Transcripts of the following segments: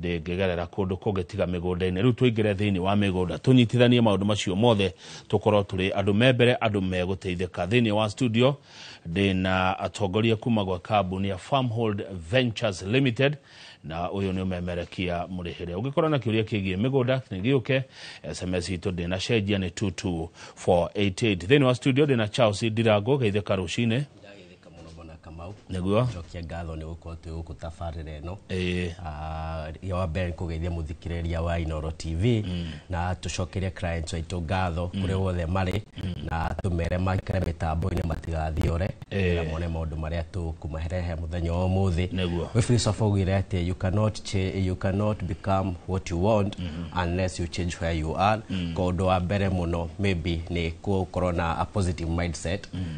ndĩngĩgerera kũndũ kũngĩ tiga mĩgũnda-inĩ rĩu tũingĩre thĩinĩ wa mĩgũnda tũnyitithanie maũndũ macio mothe tũkorwo tũrĩ andũ me mbere andũ megũteithĩka thĩinĩ wa studio ndĩna atongoria kuma gwa kambuni ya farmhold ventures limited na ũyũ nĩ ũmemerekia mũrĩhĩre ũngĩkorwo na kĩũria kĩgiĩ mĩgũnda gĩũke sms itũ ndĩna cenjia nĩ 22488 thĩinĩ wa studio ndĩna charles ndirangũ geithĩka rũcinĩ kamũrobona kamau nĩguo cokia ngatho nĩ gũkorwo twĩ gũkũ tabarĩra ĩno Ĩĩ. Ah, ya wa mbere nĩ kũgeithia mũthikĩrĩria wa inoro tv na tũcokerie clients aitũ ngatho kũrĩa wothe marĩ na tũmere maikare mĩtambo-inĩ matigathiore Ĩĩ. na mone maũndũ marĩa tũkũmaherehe mũthenya wa ũmũthĩ Nĩguo. we philosopher augire atĩ you cannot, cha- you cannot become what you want unless you change where you are kwa ũndũ wa mbere mũno maybe nĩ gũkorwo na a positive mindset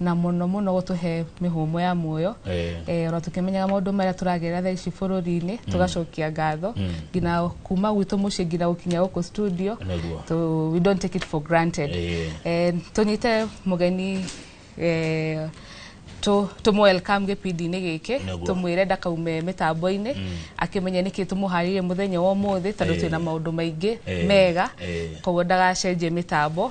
na muno muno gutuhe mihumo ya muoyo eh. eh, ona tukimenyaga maundu maria turagerera thaa ici bururi-ini mm. tugacokia ngatho mm. ngina kuma gwitu mucii ngina gukinya guku studio to we don't take it for granted eh. eh, tunyite mugeni eh, tumu welcome gipindi-inĩ gĩkĩ tumwire ndakaume mĩtambo-inĩ mm. akĩmenya nĩkĩ tũmũharĩrie mũthenya wa ũmũthĩ tondũ twĩna maũndũ maingĩ mega koguo ndagacenjie mĩtambo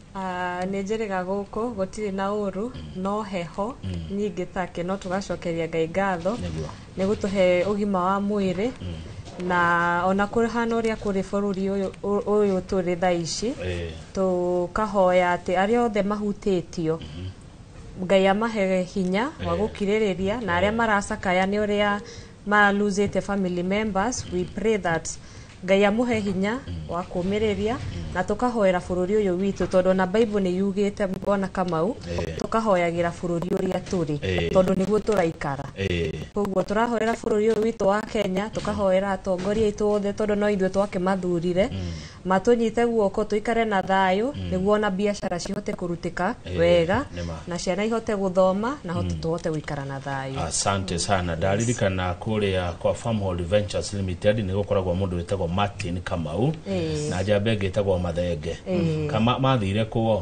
Ah, nĩ njĩrĩga gũkũ gũtirĩ na ũru no heho nyingĩ take no tũgacokeria ngai ngatho Nĩguo. nĩ gũtũhe ũgima wa mwĩrĩ na ona kũhana ũrĩa kũrĩ bũrũri ũyũ- ũ- ũyũ tũrĩ tha ici Eh, tũkahoya atĩ arĩa othe mahutĩtio ngai amahe hinya wa gũkirĩrĩria na arĩa maracakaya nĩ ũrĩa ma lose the family members we pray that ngai amuhe hinya wa kũmĩrĩria na tũkahoera bũrũri ũyũ witũ tondũ ona bible nĩ yugĩte bwana kamau Eh. tũkahoyagĩra bũrũri ũrĩa tũrĩ Eh. tondũ nĩguo tũraikara Eh, koguo tũrahoera bũrũri ũyũ witũ wa kenya tũkahoera atongoria aitũ othe tondũ no ithuĩ twakĩmathurire Matũnyite guoko tũikare na thayũ nĩguo ona biacara cihote kũrutĩka Eh, wega nĩ ma. na ciana ihote gũthoma na hote tũhote gũikara na thayũ. asante sana ndaririkana kũrĩa kwa farmhold ventures limited nĩ gũkoragwo mũndũ wĩtagwo martin kamau Eh. na njamba ĩngĩ ĩtagwo mathenge Eh. kama mathire kũo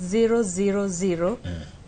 000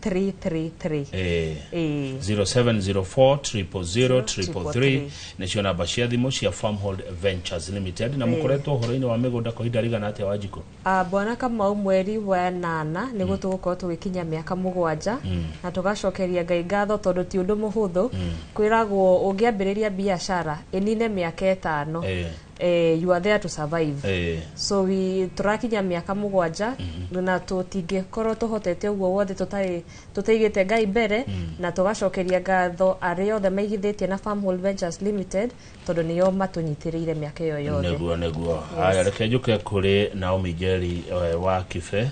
333 eh, Eh. 0704 nĩcio namba cia thimũ cia farmhold ventures limited na mũkoretwo ũhoro-inĩ wa mĩgũnda kwa ihinda rĩigana atĩa wa njikũ Ah, bwana kamau mweri wa nana nĩ guo tũgũkorwo tũgĩkinya mĩaka mũgwanja na tũgacokeria ngai ngatho tondũ ti ũndũ mũhũthũ kwĩragwo ũngĩambĩrĩria biacara ĩnine mĩaka ĩtano Eh. eh, you are there to survive Eh. so we turakinya miaka mugwanja na tutingĩkorwo tuhotete ũguo wothe tũtarĩ tũtaigĩte ngai mbere na tũgacokeria ngatho arĩa othe maigithĩtie na farm Hall ventures limited tondũ nĩo matũnyitĩrĩire mĩaka ĩyo yothe nĩguo nĩguo haya reke njũke kũrĩ naomi njeri eh, wa kibe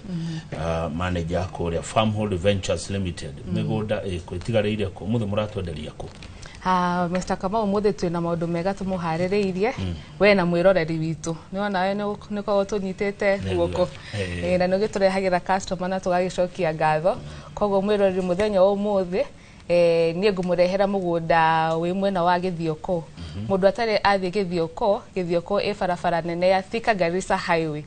ah, manager kũrĩa farmhold ventures limited mĩgũnda ĩkũ ĩtigarĩire kũ mũthĩ mũratwenderia kũ Ah, Mr. Kamau mũthĩ twĩ na maũndũ mega tũmũharĩrĩirie we na mwĩroreri witũ nĩwona we nĩkorwo tũnyitĩte Nĩ guoko guo. Eh. Eh, na nĩ ũgĩtũrehagĩra customer na tũgagĩcokia ngatho koguo mwĩroreri mũthenya wa ũmũthĩ eh, niĩ ngũmũrehera mũgũnda wĩ mwena wa gĩthioko mũndũ atarĩ athiĩ gĩthioko gĩthioko ĩ barabara nene ya Thika Garissa Highway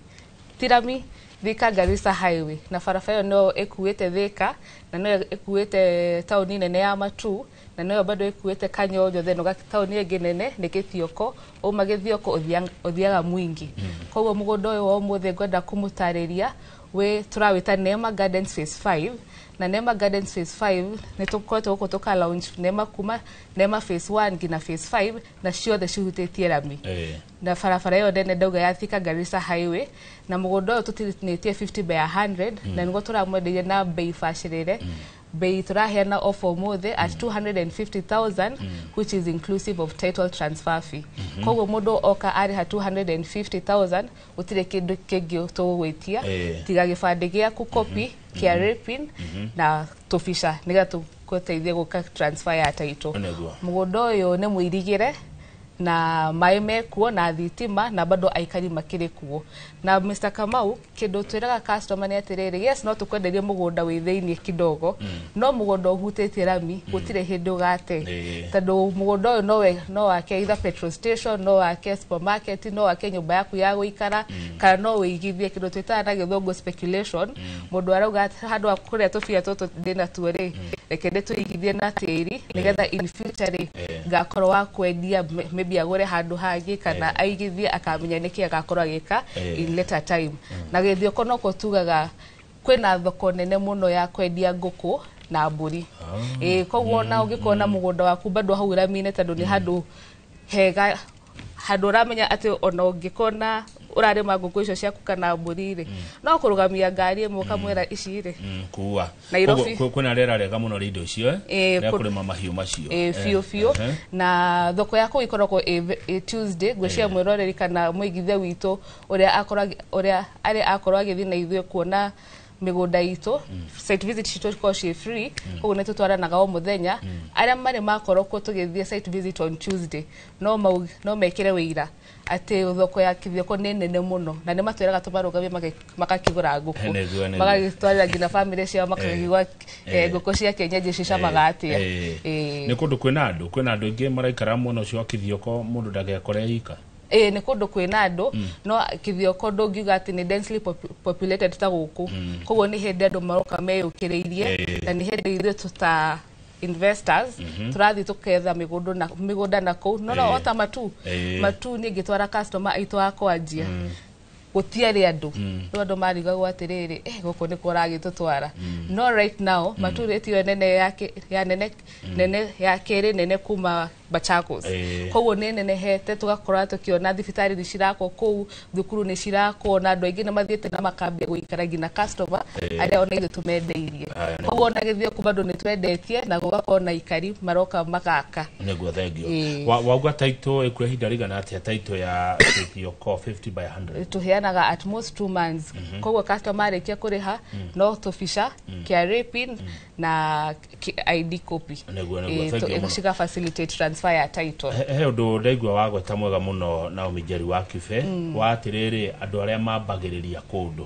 tirami Thika Garissa Highway na barabara ĩyo no ĩkuĩte Thika na no ĩkuĩte taũni nene ya Matu na noyo bado ĩkuĩte kanyojo then ũga taũni ĩngĩ nene nĩ gĩthioko uma gĩthioko ũthiang- ũthiaga mwingi koguo mũgũnda ũyũ wa ũmũthĩ ngwenda kũmũtarĩria wĩ tũrawĩta Neema Gardens phase 5 na Neema Gardens phase 5 nĩ tũkoretwo gũkũ tũka launch Neema kuma Neema phase 1 nginya phase 5 na ciothe cihutĩtie rami Eh. na barabara ĩyo nene ndauga ya Thika Garissa Highway na mũgũnda ũyũ tũtinĩtie 50 by 100 na nĩguo tũramwendeire na bei bacĩrĩre mbei turaheana offer umuthi at 250000 which is inclusive of title transfer fee koguo mundu oka ariha 250000 gutire kindu kingi tugugwitia Eh. tiga gibandi giaku copy kia rapin na tubica nigetha tuguteithie guka transfer ya title Nĩguo. mugunda uyu ni muirigire na maĩ mekuo na thitima na bado aikari makĩrĩ kuo na Mr. Kamau kĩndũ twĩraga customer nĩ atĩrĩrĩ yes no tũkwenderie mũgũnda wĩ thĩinĩ kidogo mm. no mũgũnda ũhutĩtie rami mm. gũtirĩ hĩndĩ ũgate tondũ mũgũnda ũyũ nowe no wake either petrol station no wake supermarket no wake nyũmba yaku ya gũikara mm. kana no wĩigithie kĩndũ twĩtaga na gĩthũngũ speculation mũndũ arauga handũ kũrĩa tũbia tũtũ ndĩna tuo rĩ reke ndĩtũigithie na tĩri nĩgetha in future rĩ Eh. ngakorwo wa kwendia m- maybe agũre handũ hangĩ kana aigithie akamenya nĩkĩ agakorwo agĩka Eh. in later time na gĩthioko noko tugaga kwĩna thoko nene mũno ya kwendia ngũkũ na mbũri ĩĩ koguo ona ũngĩkorwo na mũgũnda waku bado hau rami-inĩ tondũ nĩ handũ hega handå åramenya atä ona å ngä kona å rarä ma ngå kå icio ciaku kana mbå ri rä no kå rå gamia ngari ä mwe kamwä ra ici rä Mm, kuua Nairobi. Koguo kwĩ- kwĩna rĩera rĩega mũno rĩa indo icio eh? Eh, rĩa kũ- kũrĩma mahiũ macio Eh, biũ biũ eh, eh. na thoko ya kũu ikoragwo ĩ ve- ĩ tuesday ngwĩciria mwĩroreri kana mũigithia witũ ũrĩa akorag- ũrĩa arĩ akorwo agĩthiĩ na ithuĩ kuona mĩgũnda itũ site visit citũ ikorwo ciĩ free koguo nĩ tũtwaranaga o mũthenya arĩa marĩ makorwo kuo tũgĩthiĩ site visit on tuesday no mau- no mekĩre wĩira atĩ thoko ya kithioko nĩ nene mũno na nĩ matwĩraga tũmarũgamie magĩ- magakĩgũra ngũkũ Nĩguo, nĩguo. magagĩtwarĩra nginya bamĩrĩ ciao makakĩgũra eh, ngũkũ cia kĩenyenji cicamaga atĩa Eh, Eh. nä kå ndå kwä na andå kwä na andå aingä maraikara mwena å cio wa kä thioko må ndå ndagekore ika ĩĩ nĩ kũndũ kwĩna andũ no kĩthioko ndũngiuga atĩ nĩ densely popu- populated ta gũkũ koguo nĩ hĩndĩ andũ maroka meyũkĩrĩirie Eh. na nĩ hĩndĩ ithuĩ tũta investors tũrathiĩ tũketha mĩgũndũ na mĩgũnda na kũu no no Eh. ota matu Eh. matu niĩ ngĩtwara customer aitũ a kwanjia gũtiarĩ andũ rĩu andũ marigagwo atĩrĩrĩ eh, gũkũ nĩkũ ũragĩtũtwara no right now maturĩti ĩyo nene ya kĩ- ya nene nene ya kĩrĩ nene kuma Machakos Eh. koguo nĩ nenehete tũgakorwo tũkĩona thibitarĩ nĩ cirakwo kũu thukuru nĩ cirakwo na andũ aingĩ nĩ mathiĩte na makambia gũikara nginya customer Eh. arĩa ona ithuĩ tũmendeirie Aya nĩ- koguo ona gĩthĩo kuma andũ nĩ twendetie na gũgakorwo na ikari maroka magaka nĩguo thengio Ĩĩ. Wa- wauga taitũ ĩkuoya ihinda rĩigana atĩa taitũ ya City of Core 50 by 100 tuheanaga at most two months koguo customer arĩkia kũrĩha no tũbica KRA pin na ki- ID copy Nĩguo, nĩguo. Eh, Thank tu- you mũno. ciga facilitate transfer ya title he he ũndũ ndaigua wagweta mwega mũno na ũmĩnjeri wa kibe wa atĩrĩrĩ andũ arĩa mambagĩrĩria kũndũ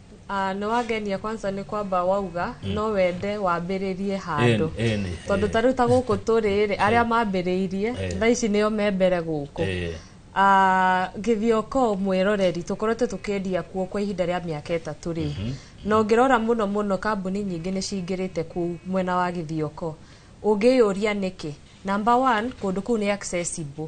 Ah, nĩ wangenia kwanza nĩ kwamba wauga no wende wambĩrĩrie handũ Ĩni, ĩni, tondũ ĩni. ta rĩu ta gũkũ tũrĩ rĩ arĩa mambĩrĩirie Eh. thaa ici nĩo me mbere gũkũ Eh. Ah, gĩthioko mwĩroreri tũkoretwo tũkĩendia kuo kwa ihinda rĩa mĩaka ĩtatũ rĩ na ũngĩrora mũno mũno kambuni nyingĩ nĩ cingĩrĩte kuu mwena wa gĩthioko ũngĩyũria nĩkĩ number one kũndũ kũu nĩ accessible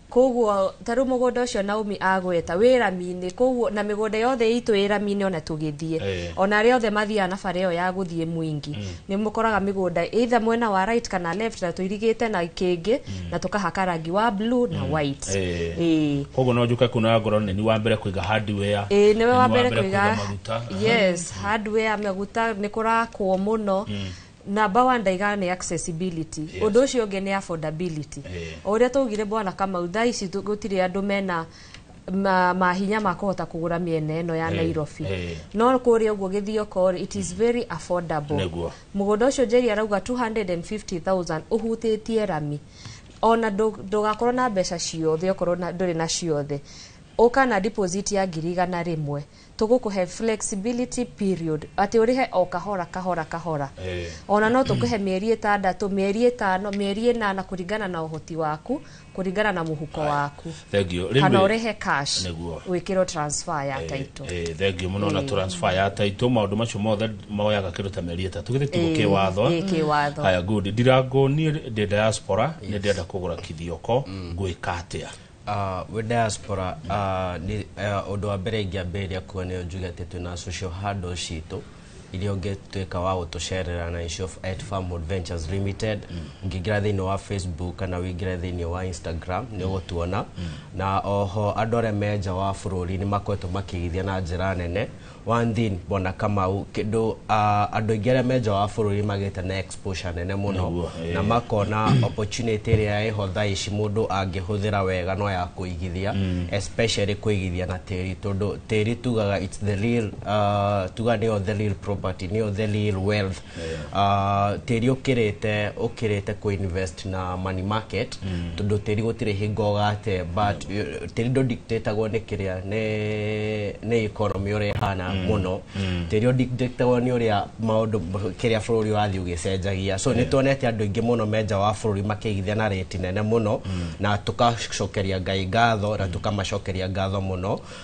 Kwoguo ta rĩu mũgũnda ũcio Naomi agweta wĩ rami-inĩ, kwoguo na mĩgũnda yothe itũ ĩ rami-inĩ ona tũgĩthiĩ Eh. ona arĩa othe mathiaga na bara ĩyo ya gũthiĩ Mwingi nĩ mũkoraga mĩgũnda either mwena wa right kana left na tũirigĩte na kĩngĩ na tũkahaka rangi wa blue na white Eh. Ĩĩ. koguo no njũke kunaga ngoro nĩ ni wa mbere kũiga hardware Ĩĩ, nĩwe wa mbere kũiga maguta yes hardware maguta nĩ kũrakwo mũno Number one ndaiga nĩ accessibility. Yes. Ũndũ ũcio ũngĩ nĩ affordability. Eh. O ũrĩa twaugire bwana Kamau thaa ici tũ- gũtirĩ andũ mena ma- mahinya ma kũhota kũgũra mĩena ĩno ya Eh, Nairobi. eh. No kũrĩa ũguo Gĩthioko it is very affordable. Nĩguo. Mũgũnda ũcio Njeri arauga 250,000 ũhutĩtie rami. Ona ndũ- ndũgakorwo na mbeca ciothe okorwo na- ndũrĩ na ciothe. Ũka na deposit ya ngiri igana rĩmwe. tũgũkũhe flexibility period atĩ ũrĩhe o kahora kahora kahora Eh. ona no tũkũhe mĩeri ĩtandatũ mĩeri ĩtano mĩeri ĩnana kũringana na ũhoti waku kũringana na mũhuko waku thank you kana Rĩmwe- ũrĩhe cash Nĩguo. wĩkĩrwo transfer ya title Eh, thengiå må no na transfer ya taitå maå ndå macio mothe moyaga kä ndå ta mĩeri ĩtatå gä thä tugo Eh, kä watho eh, kĩ watho. haya good ndirango niä ndä diaspora nä ndärenda kå gå ra kithioko ngwä ka atä a Uh, we diaspora uh, ni, uh, undu wa mbere ingĩambĩrĩria kuo nĩ njuge atĩ twĩna social handle citũ iria ũngĩtuĩka wa gũtũcerera na icio at farm adventures limited ũngĩingĩra thĩinĩ wa facebook kana ũingĩre thĩinĩ wa instagram nĩ ũgũtuona na oho andũ arĩa me nja wa bũrũri nĩ makoretwo makĩigithia na njĩra nene One thing bwana Kamau kĩndũ ah, andũ aingĩ arĩa me nja wa bũrũri magĩte na exposure nene mũno Nĩguo, eh. na makona opportunity ĩrĩa ĩho thaa ici mũndũ angĩhũthĩra wega no ya kũigithia especially kũigithia na tĩri tondũ tĩri tugaga it's the real ah, tuga nĩyo the real property nĩyo the real wealth Ah, tĩri ũkĩrĩte ũkĩrĩte kũ invest na money market tondũ tĩri gũtirĩ hingo ũgate but eh, tĩri ndũ dictatagwo nĩ kĩrĩa nĩ- nĩ economy ũrĩa ĩhana mũno tĩri ũdictatagwo nĩ ũrĩa maũndũ kĩrĩa bũrũri ũrathiĩ ũgĩcenjagia so nĩ tuonete andũ aingĩ mũno menja wa bũrũri makĩigithia na rĩti nene mũno na tũkacokeria ngai ngatho na tũkamacokeria ngatho mũno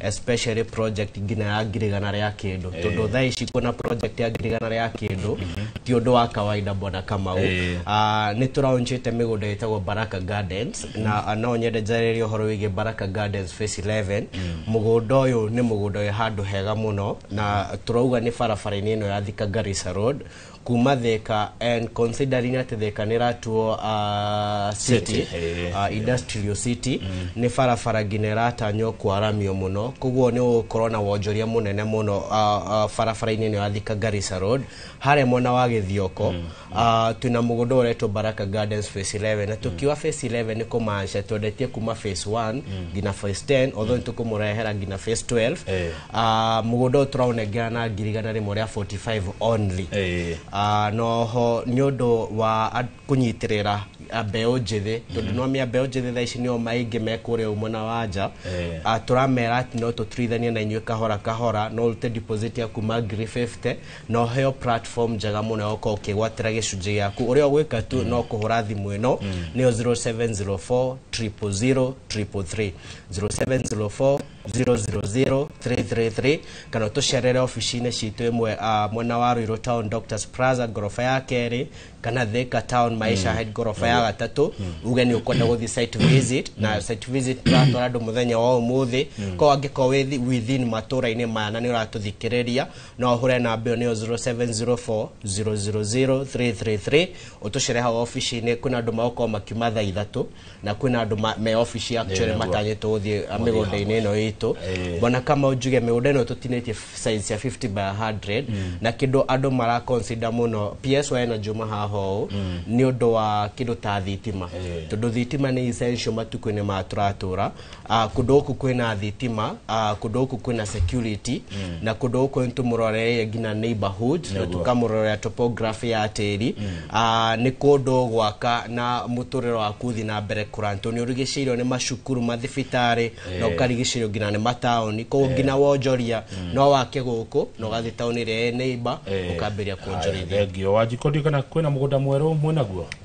especially project nginya ya ngirigana rĩa kĩndũ tondũ thaa ici kuona project ya ngirigana rĩa kĩndũ ti ũndũ wa kawaida bwana kamau Eh. Ah, nĩ tũraunjĩte mĩgũnda ĩtagwo baraka gardens na ah, no nyende njarĩrie ũhoro wĩgiĩ baraka gardens face 11 mũgũnda ũyũ nĩ mũgũnda wĩ handũ hega mũno na tũrauga nĩ barabara-inĩ ĩno ya thika garissa road kuma theka and considering atĩ theka nĩ ratuo uh, city, City, eh, uh, industrial city nĩ barabara nginya ĩratanywo kwaramio mũno koguo nĩ ũgũkorwo na wonjoria mũnene mũno uh, uh, barabara-inĩ ĩno ya thika garissa road harĩa mwena wa gĩthioko uh, twĩna mũgũnda ũretwo baraka gardens phase 11 na tũkiuga phase 11 nĩ kũmaanisha twendetie kuma phase 1 nginya phase 10 although nĩ tũkũmũrehera nginya phase 12 Eh. Ah, mũgũnda ũyũ tũraũnengera na ngiri igana rĩmwe rĩa 45 only Eh. Ah, noho nĩ ũndũ wa a- kũnyitĩrĩra ah, mbeũ njĩthĩ tondũ no mĩa mbeũ njĩthĩ thaa ici nĩo maingĩ me kũrĩa ũguo mwena wa nja Eh. Ah, tũramera atĩ no tũtirithanie na inyuĩ kahora kahora no ũrute deposit ya kuma ngiri 50 na ũheo platform njega mũno ya gũkorwo ũkĩgwatĩra gĩcunjĩ gĩaku ũrĩa ũgwĩka tu no kũhũra thimũ ĩno nĩyo 0704 000 333 0704 000333 kana tucerere ofici-inĩ citũ ĩmwe ah, mwena wa Ruiru Town Doctors Plaza ngoroba ya kerĩ kana Thika Town Maisha Head ngoroba ya gatatũ uge nĩ ũkwenda gũthiĩ site visit na site visit tũratwara andũ mũthenya wa ũmũthĩ ko angĩkorwo wĩ thi- within matũra-inĩ maya na nĩ ũratũthikĩrĩria no ũhũre namba ĩyo nĩyo 0704 000333 ũtũcere hau ofici-inĩ kwĩna andũ magũkorwo makiuma thaa ithatũ na kwina andu ma- me office actually Nĩguo. matanyĩtwo gũthiĩ Gũthiĩ mĩgũnda-inĩ ĩno itũ Eh. bona kama njuge mĩgũnda ĩno tũtinĩtie size ya 50 by 100 na kĩndũ andũ mara consider mũno PSY ĩno njuma haha ũũ nĩ ũndũ wa kĩndũ ta thitima Eh. tondũ thitima nĩ essential matukũ-inĩ ma tũratũra Uh, kundu guku kwina thitima uh, kundu guku kwina security mm. na kundu guku nitumuroreire nginya neighborhood na Naguo. tukamurorera topography ya tiri mm. uh, ni kundu gwaka na muturiro waku thi na mbere kuran tondu urigicirwo ni macukuru mathibitari Eh. na ukarigicirwo nginya ni mataoni koguo nginya wonjoria no wake guku na ugathi taoni ria neighbor ukambiria kuonjorithia thengio wanjikå ndio kana kwä na må gå nda mwerå mwä naguo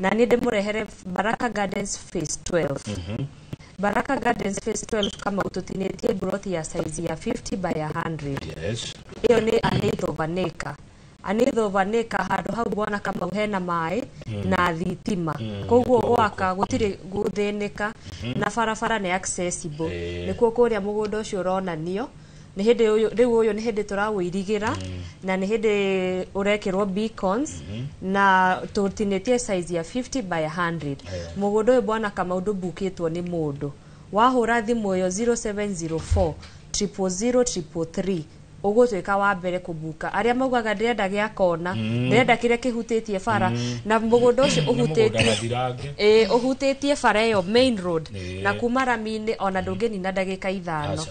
na niĩ ndĩmũrehere baraka gardens phase 12 baraka gardens phase 12 kama ũtũtinĩtie mburoti ya saizi ya 50 by 100 yes ĩyo nĩ anĩtho vanĩka anĩtho vanĩka handũ hau bwana kamau hena maĩ na thitima koguo gwaka gũtirĩ gũthĩnĩka na barabara nĩ accessible Eh. nĩkuo kũrĩa mũgũnda ũcio ũronanio nĩ hĩndĩ ũyũ- rĩu ũyũ nĩ hĩndĩ tũrawũirigĩra na nĩ hĩndĩ ũrekĩrwo beacons na tũtinĩtie size ya 50 by 100 mũgũnda ũyũ bwana kamaũndũ mbukĩtwo nĩ mũndũ wahũra thimũ ĩyo 0704 000 333 ũgũtuĩka wa mbere kũbuka arĩa maugaga ndĩrenda gĩa kona ndĩrenda kĩrĩa kĩhutĩtie bara na mũgũnda ũcio mũgũnda ũhutĩtie gathirange Ĩĩ, ũhutĩtie bara ĩyo main road Ĩĩ. na kuma rami-inĩ ona ndũngĩnina ndagĩka ithano Aca.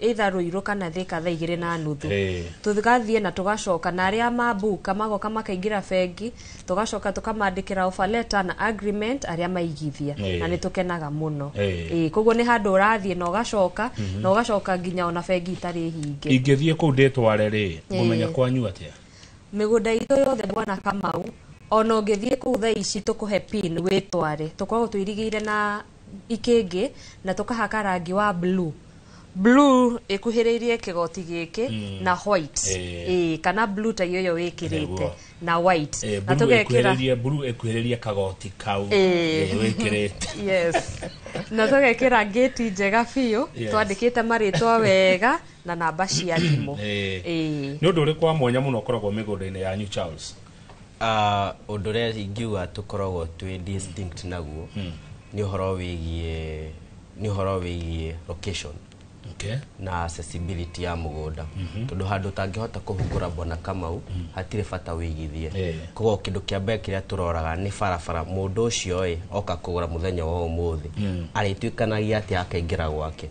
either Ruiru kana Thika thaa igĩrĩ na nuthu Eh. tũgathiĩ na tũgacoka na arĩa mambuka magoka makaingĩra bengi tũgacoka tũkamandĩkĩra offer letter na agreement arĩa maigithia Eh. na nĩ tũkenaga mũno Eh. Ĩĩ, koguo nĩ handũ ũrathiĩ na ũgacoka na ũgacoka nginya ona bengi itarĩ hinge ingĩthiĩ kũu ndĩtware rĩ ngũmenya Eh. kwanyu atĩa mĩgũnda itũ yothe bwana kamau ona ũngĩthiĩ kũu thaa ici tũkũhe pin wĩtware tũkoragwo tũirigĩire na ikĩngĩ na tũkahaka rangi wa blue blue ĩkuhĩrĩirie kĩgoti gĩkĩ mm. na white eh. ĩĩ kana blue ta iyo yo wĩkĩrĩte na white eh, na tũgekĩra blue ĩkuhĩrĩirie kagoti kau eh. wĩkĩrĩte yes na tũgekĩra ngĩti njega biũ twandĩkĩte marĩtwa wega na namba cia thimũ nĩ ũndũ ũrĩ kwa mwanya mũno ũkoragwo mĩgũnda-inĩ yanyu charles Ah, ũndũ ũrĩa ingiuga tũkoragwo twĩ distinct naguo nĩ ũhoro wĩgiĩ nĩ ũhoro wĩgiĩ location okay. na accessibility ya mũgũnda tondũ handũ ũtangĩhota kũhungũra bwana kamau hatirĩ bata wĩigithie Eh. koguo kĩndũ kĩa mbere kĩrĩa tũroraga nĩ barabara mũndũ ũcio ĩ oka kũgũra mũthenya wa ũmũthĩ arĩtuĩkanagia atĩa akaingĩra gwake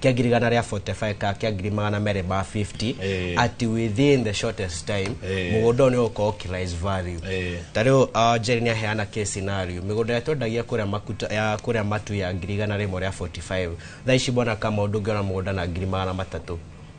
kĩa ngiri igana rĩa 45 ka kĩa ngiri magana merĩ ma 50 Eh. ati within the shortest time Eh. mũgũnda ũyũ nĩ ũgũkorwo kĩrais value Eh. ta rĩu uh, Jerry nĩ aheana case scenario mĩgũnda ĩrĩa twendagia kũrĩa makuta ya kũrĩa matu ya ngiri igana rĩmwe rĩa 45 thaa ici mbona kama ũndũ ũngĩona mũgũnda na ngiri magana matatũ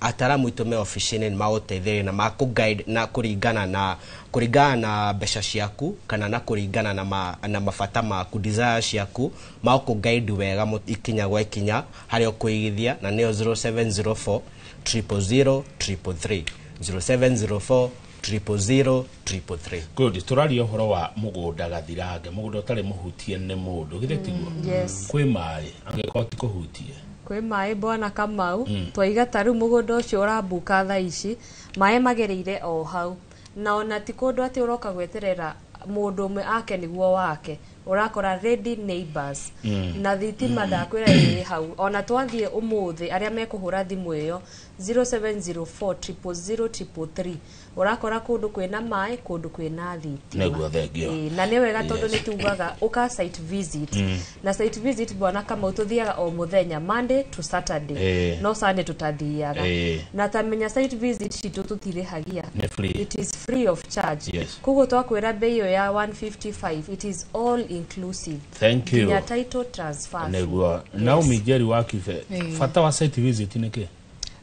ataramu itũ me obici-inĩ nĩ magũteithĩrĩria na makũ guide na kũringana na kũringana na mbeca ciaku kana na kũringana na, ma, na mabata maku desire ciaku magũkũ guide wega mũ- ikinya gwa ikinya harĩa ũkũigithia na nĩyo 0704 000 333 0704 triple zero triple three good tũraria ũhoro wa mũgũnda gathirange mũgũnda ũtarĩ mũhutie nĩ mũndũ githĩ tiguo mm, yes. kwĩ maĩ angĩkorwo ti kũhutie kwĩ maĩ bwana kamau mm. twaiga ta rĩu mũgũnda ũcio ũrambuka tha ici maĩ magereire o hau na ona ti kũndũ atĩ ũroka gweterera mũndũ ũmwe ake nĩguo wake urakora ready neighbors mm. na thitima mm. ndakwira iri hau ona twathie umuthi aria mekuhura thimu iyo 0704000333 urakora kundu kwina mai kundu kwina thitima Nĩguo thengio. Ĩĩ, na nĩ wega tondũ Yes. nĩ tugaga ũka site visit na site visit bwana kamau tuthiaga o muthenya monday to saturday Ĩĩ. no sunday tutathiaga Ĩĩ. na tamenya site visit citũ tũtirĩhagia Nĩ free. it is free of charge Yes. koguo twakwĩra mbei ĩyo ya 155 it is all inclusive thank you nginya title transfer fee. nĩguo naomi njeri wa kibe Ĩĩ. bata wa site visit nĩ kĩ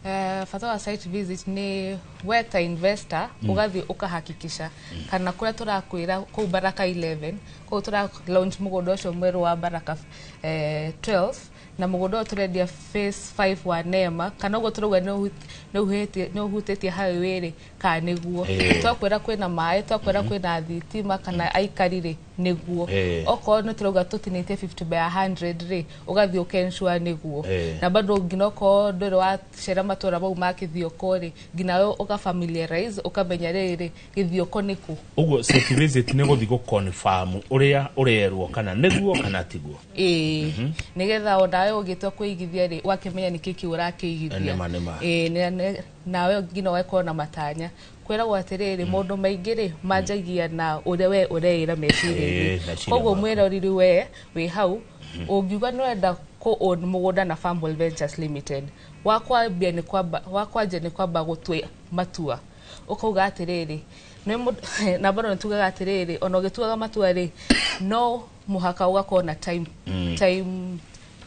Eh, bata wa site visit nĩ we ta investor ũgathiĩ ũkahakikisha kana kũrĩa tũrakwĩra kũu baraka 11 kũu tũra launch mũgũnda ũcio mwerũ wa baraka eh, 12 na mũgũnda ũyũ tũrendia phase 5 wa nema kana ũguo tũrauga nĩ ũhu- nĩ ũhĩtie- nĩ ũhutĩtie highway rĩ kana nĩguo Ĩĩ. twakwĩra kwĩna maĩ twakwĩra kwĩna thitima kana aikari rĩ nĩguo Eh. okorwo nĩ tũrauga tũtinĩtie 50 by 100 rĩ ũgathiĩ ũkensua nĩguo Eh. na bado nginya okorwo ndũrĩ wacera matũra mau ma kĩthioko rĩ nginya we ũka familiarize ũkamenya rĩrĩ gĩthioko nĩ kũ ũguo site visit nĩ gũthi gũconfirm ũrĩa ũrerwo kana nĩguo kana tiguo ĩĩ nĩgetha o nawe ũgĩtua kũigithia rĩ ũgakĩmenya nĩkĩ kĩu ũrakĩigithia Nĩma, nĩma. Ĩĩ, na- na- nawe nginya ũgakorwo na matanya kwĩragwo atĩrĩrĩ mm. maũndũ maingĩ rĩ mm. manjagia na ũrĩa we ũreĩra meciria-inĩ koguo mwĩroriri we wĩ hau mm. ũngiuga nĩ wenda kũ-own mũgũnda na Farmwell Ventures Limited wakwambia nĩ kwamba wakwanja nĩ kwamba gũtwĩ matua ũkauga atĩrĩrĩ nĩ namba no nĩ tugaga atĩrĩrĩ ona ũgĩtuaga matua rĩ no mũhaka ũgakorwo na time mm. time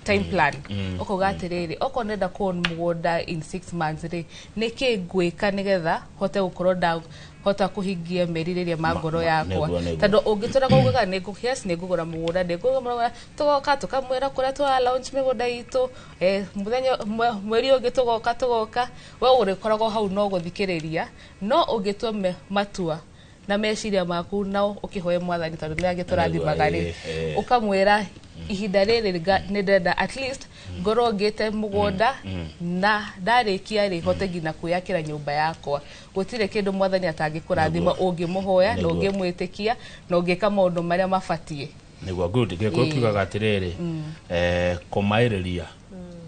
time mm. plan mm. ũkauga mm. atĩrĩrĩ okorwo nenda kũ mũgũnda in six months rĩ nĩkĩ ngwĩka nĩgetha hote gũkorwo nda hota kuhingia merirĩria ma ngoro yakwa tondu ungitura kugaga ni ngu yes ni ngugura mugunda ni ngugura mugunda tugoka tukamwira kuria twa launch migunda itu eh muthenya mweri ungi tugoka tugoka we urikoragwo hau no guthikiriria no ungitua matua na meciria maku na ũkĩhoe mwathani tondũ nĩ agĩtũrathimaga rĩ ũkamwĩra ihinda rĩrĩ nga- nĩ ndenda at least ngorwo ngĩte mũgũnda na ndarĩkia rĩ hote nginya kwĩyakĩra nyũmba yakwa gũtirĩ kĩndũ mwathani atangĩkũrathima ũngĩmũhoya na Nĩguo. ũngĩmwĩtĩkia na ũngĩka maũndũ marĩa mabatiĩ niguo good gĩkũyũ Ĩĩ. kiugaga atĩrĩrĩ eh, kũmaĩrĩria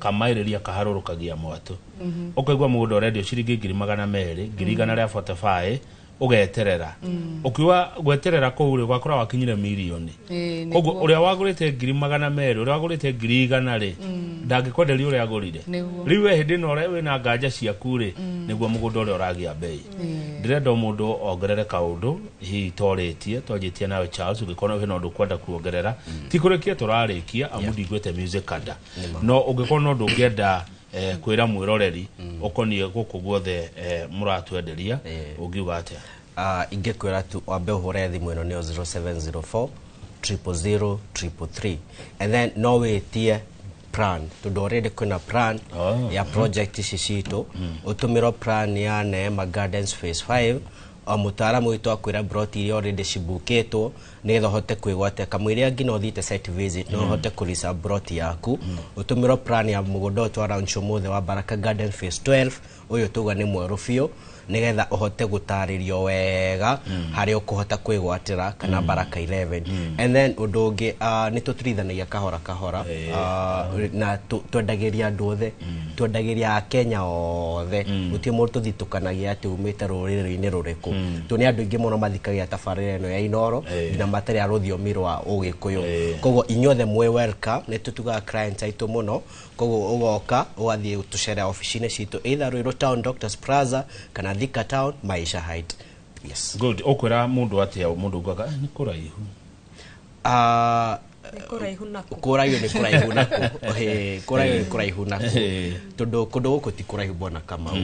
kamaĩrĩria kaharũrũkagia mwatũ ũkaigua mũgũnda ũrendio ciringi ngiri magana merĩ ngiri igana rĩa botebaĩ ugeterera mm. ukiwa gweterera kuu ri gwakora wakinyire milioni eh, koguo uria wagurite ngiri magana meri uria wagurite ngiri igana ri mm. ndangikwenderia uria agurire riu we hindi no ri na nganja ciaku ri mm. niguo mugunda uria uragia mbei ndirenda mundu ongerere kaundu hihi toritie twanjitie nawe charles ungikorwo hena undu kwenda kuongerera ti kurikia turarikia amu ndiguite music kada no ungikorwo no ndungienda eh, kwĩra mwĩroreri ũkoniĩ gũkũ guothe eh, mũratwenderia Eh. ũngiuga atĩa Ah, ingĩkwĩra tu wambe ũhũre thimũ ĩno nĩyo 0704 000 333 and then no wĩtie plan tondũ already kwĩna plan Oh. ya project ici citũ ũtũmĩrwo plan ya neema gardens phase 5 O mũtaaramu witũ akwĩra mburoti iria already cibukĩtwo nĩgetha ũhote kwĩgwatia kamũiria nginya ũthiĩte site visit no ũhote kũrisa mburoti yaku ũtũmĩrwo plan ya mũgũnda ũyũ twa launch ũmũthĩ wa Baraka Garden Phase 12 ũyũ tuga nĩ mwerũ biũ nĩgetha ũhote gũtarĩrio wega harĩa ũkũhota kwĩgwatĩra kana Baraka 11 and then ũndũ ũngĩ ah, nĩ tũtirithanagia kahora kahora ah, na tũ- twendagĩria andũ othe twendagĩria akenya othe gũtirĩ mũndũ tũthitũkanagia atĩ umĩte rũrĩrĩ-inĩ rũrĩkũ tondũ nĩ andũ aingĩ mũno mathikagia tabarĩra ĩno ya inoro nginya matarĩ a rũthiomi rwa ũgĩkũyũ koguo inyuothe mwĩ welcome nĩ tũtugaga clients aitũ mũno koguo ũgoka ũgathiĩ gũtũcerera obici-inĩ citũ either Ruiru Town Doctors Plaza kana Thika Town Maisha Height yes good ukwira mundu atia mundu ugaga ni kuraihu Ah, Nĩ kũraihu naku. kũraihu nĩ kũraihu naku Ĩĩ, kũraihu nĩ kũraihu naku Ĩĩ. tondũ kũndũ gũkũ ti kũraihu bona kamau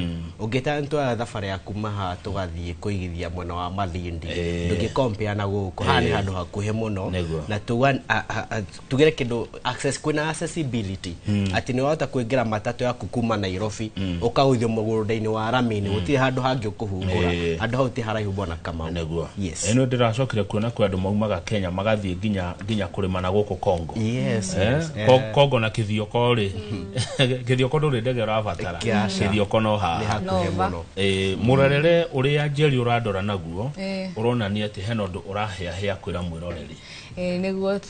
ũngĩta nĩtwoya thabarĩ ya kuma haha tũgathiĩ kũigithia mwena wa mathindi Ĩĩ. ndũngĩkompea na gũkũ haha nĩ handũ hakuhĩ mũno Nĩguo. na tuga- a- a- a- tugĩre kĩndũ access kwina accessibility mm. ati ni wahota kuingira matatu yaku kuma Nairobi mm. ukahuthio mugurundaini wa ramini gutire handu hangi ukuhungura Eh. handu hau ti haraihu bwana kama niguo yes ino ndiracokire kuona kwi andu maumaga kenya magathiĩ nginya nginya kũrĩma na gũkũ kongo yes, Eh, yes. ko- kongo na kithioko rĩ kithioko ndũrĩ ndege ũrabatara Kĩaca. kithioko no Nĩ haha hakuhĩ Nova. mũno Eh, mũrorere ũrĩa njeri ũrandora naguo Eh. ũronania atĩ hena ũndũ ũrahĩahĩa kwĩra mwĩroreri Eh, niguo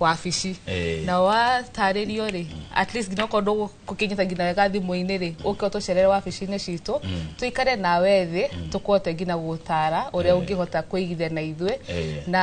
wabici Eh. na watarĩrio rĩ at least nginya okorwo ndũgũkinyĩta nginya wega thimũ-inĩ rĩ ũke ũtũcerere wabici-inĩ citũ tũikare nawe thĩ tũkũhote nginya gũtara ũrĩa ũngĩhota kũigithia na ithuĩ Eh. na